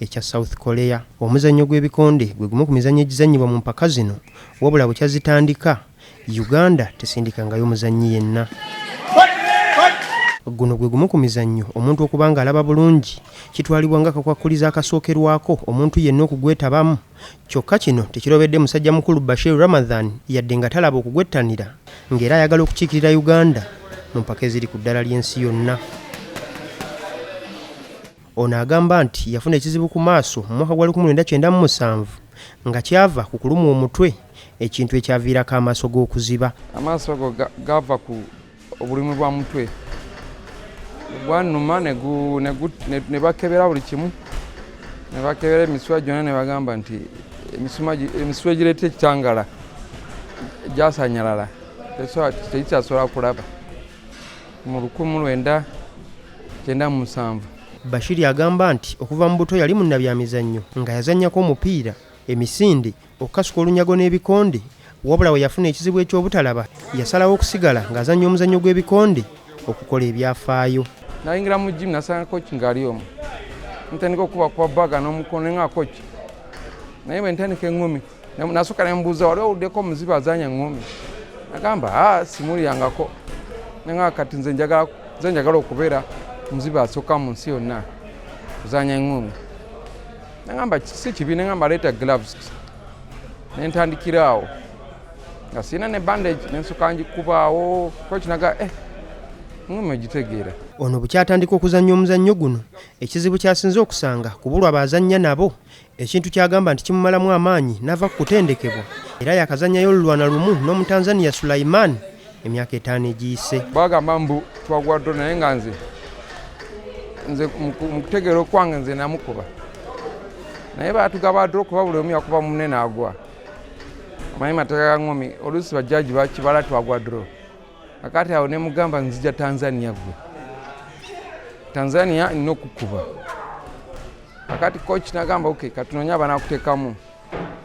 ekya South Korea. Omuzannyo gw'ebikonde gwe gumu ku mizannyo egizannyibwa mu mpaka zino wabula bukya zitandika, Uganda tesindikangayo muzannyi yenna. Guno gwe gumu ku mizannyo omuntu okuba ng'alaba bulungi kitwalibwa nga kakwakkulizo akasookerwako omuntu yenna okugwetabamu. Kyokka kino tekirobedde musajja mukulu Bashir Ramadhan yadde nga talaba okugwettanira ng'era ayagala okukiikirira Uganda mu mpaka eziri ku ddala ly'ensi yonna. Ono agamba nti yafuna ekizibu ku maaso mu mwaka gwa lukumi lwenda kyenda mu musanvu nga kyava ku kulumwa omutwe ekintu ekyaviirako amaaso ge okuziba. Amaaso ago gaava ku obulumi bwa mutwe gwanuma ne bakebera buli kimu ne bakebera emisuwa gyonna ne bagamba nti emisuwa egireeta ekitangala gyasanyalala tekikyasobola kulaba mu lukumu lwenda kyenda mu musanvu. Bashiri agamba nti okuva mu buto yali munnabyamizannyo nga yazannyako omupiira, emisinde, okukasuka olunyago n'ebikonde wabula we yafuna ekizibu eky'obutalaba yasalawo okusigala ng'azannya omuzannyo gw'ebikonde okukola ebyafaayo. Nayingira mu jimu nasanga koki ng'ali omu ntandika okuba kwa baga n'omukono nga koki naye bwe ntandika eŋŋumi Nasooka ne mbuuza wali owuddeko omuzibu azaanya ng'omi? Agamba ah, simulyangako nanga kati nze njagala okubeera omuzibu asooka mu nsi yonna kuzaanya ng'omi. Nagamba si kibi, nagamba leeta gloves ne ntandikira awo nga sirina ne bandage ne nsooka ngikubaawo kuba kinaga eh ng'omi ogitegeera. Ono bwe kyatandika okuzannya omuzannyo guno ekizibu ky'asinze okusanga kubulwa bazannya nabo ekintu ky'agamba nti kimumalamu amaanyi n'ava ku kutendekebwa era yakazannyayo olulwana lumu n'omutanzania Sulaiman emyaka etaano egiyise. Bagamba mbu twagwaddo naye nga nze nze mu kutegeera okwange nze namukuba naye batugaba dro kuba buli omu yakuba mune naagwa manyi mateeka ga ngomi oluusi bajjaji bakibala twagwa dro akati awo nemugamba nzija tanzania gwe tanzania nina okukuba akati coach nagamba ok katunonye abanakutekamu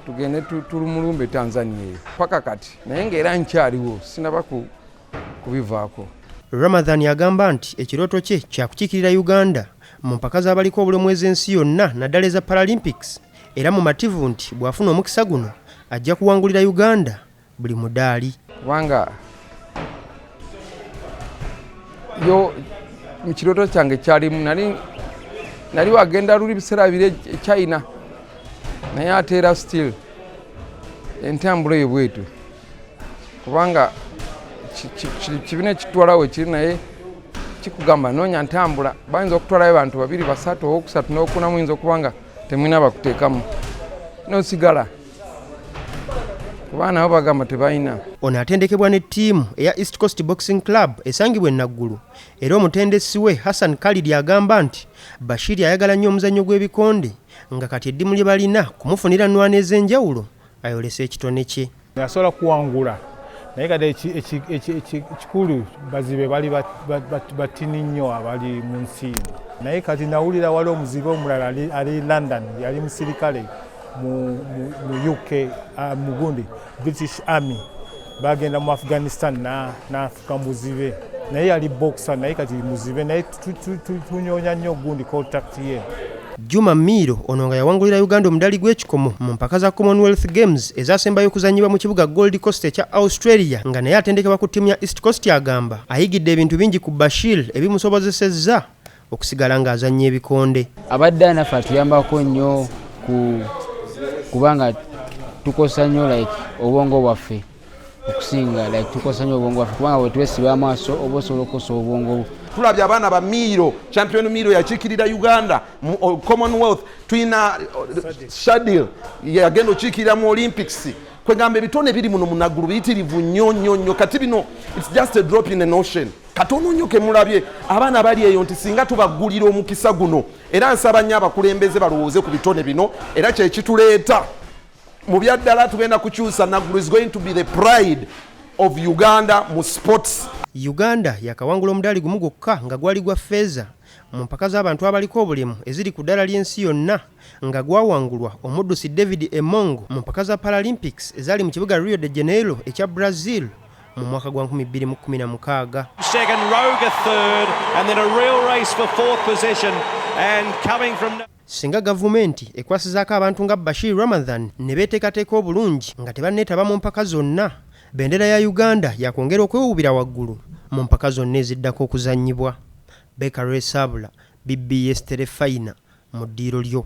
tugende tulumulumbe tanzania eyo paka kati naye ngaera nkyaliwo sinaba kubivaako ramadhan agamba nti ekirooto kye kyakukikirira uganda mu mpaka z'abaliko obulemu ez'ensi yonna naddala eza paralympics era mumativu nti bw'afuna omukisa guno ajja kuwangulira uganda buli mudaali kubanga yo mu kirooto kyange kyalimu nali nali wagenda luli biseera biri e, e china naye ate era still entambula eyo bwetu kubanga kibina ekitwalawo ekiri naye kikugamba noonya ntambula bayinza okutwalayo bantu babiri basatu owokusatu nokuna muyinza okuba nga temwina bakuteekamu nosigala kuba nabo bagamba tebalina ono atendekebwa ne ttiimu eya east coast boxing club esangibwa enaggulu era omutendesi we hassan kalidi agamba nti bashiri ayagala nnyo omuzannyo gw'ebikonde nga kati eddimu lye balina kumufunira nwana ez'enjawulo ayolese ekitone kye asobola kuwangula naye kati ekikulu bazibe bali batini nnyo abali mu nsi naye kati nawulira wali omuzibe omulala ali london yali musirikale mu uk ah, mugundi british army bagenda mu afghanistan nafuka muzibe naye yali boxer naye kati muzibe naye tunyonya nnyo gundi contact ye Juma Miiro ono nga yawangulira Uganda omudali gw'ekikomo mu mpaka za Commonwealth Games ezasembayo okuzannyibwa mu kibuga Gold Coast ekya Australia nga naye atendekebwa ku ttiimu ya East Coast agamba ayigidde ebintu bingi ku Bashir ebimusobozesezza okusigala ng'azannya ebikonde. Abadde anaffe atuyambako nnyo ku kubanga tukozesa nnyo like obwongo bwaffe okusinga like tukozesa nnyo obwongo bwaffe kubanga bwetwesiba amaaso oba osobola okukozesa obwongo bwo tulabye abaana ba miiro champion miiro yakiikirira uganda mu uh, commonwealth tulina uh, shadil yagenda okiikirira mu olympics kwegamba ebitone biri muno munaggulu biyitirivu nnyo nnyo nnyo kati bino its just a drop in an ocean katono nnyo kemulabye abaana bali eyo nti singa tubaggulira omukisa guno era nsaba nnyo abakulembeze balowooze ku bitone bino era kyekituleeta mu byaddala tugenda kukyusa naggulu is going to be the pride of uganda mu sports uganda yakawangula omudaali gumu gwokka nga gwali gwa feeza mu mpaka z'abantu abaliko obulemu eziri ku ddala ly'ensi yonna nga gwawangulwa omuddusi David Emong mu mpaka za Paralympics ezaali mu kibuga Rio de Janeiro ekya Brazil mu mwaka gwa 2016. Singa gavumenti ekwasizaako abantu nga Bashir Ramadhan ne beeteekateeka obulungi nga tebanneetaba mu mpaka zonna, bendera ya Uganda yakwongera okwewuubira waggulu mu mpaka zonna eziddako okuzannyibwa. Baker Lwesabula, BBS Terefayina mu ddiiro lyo.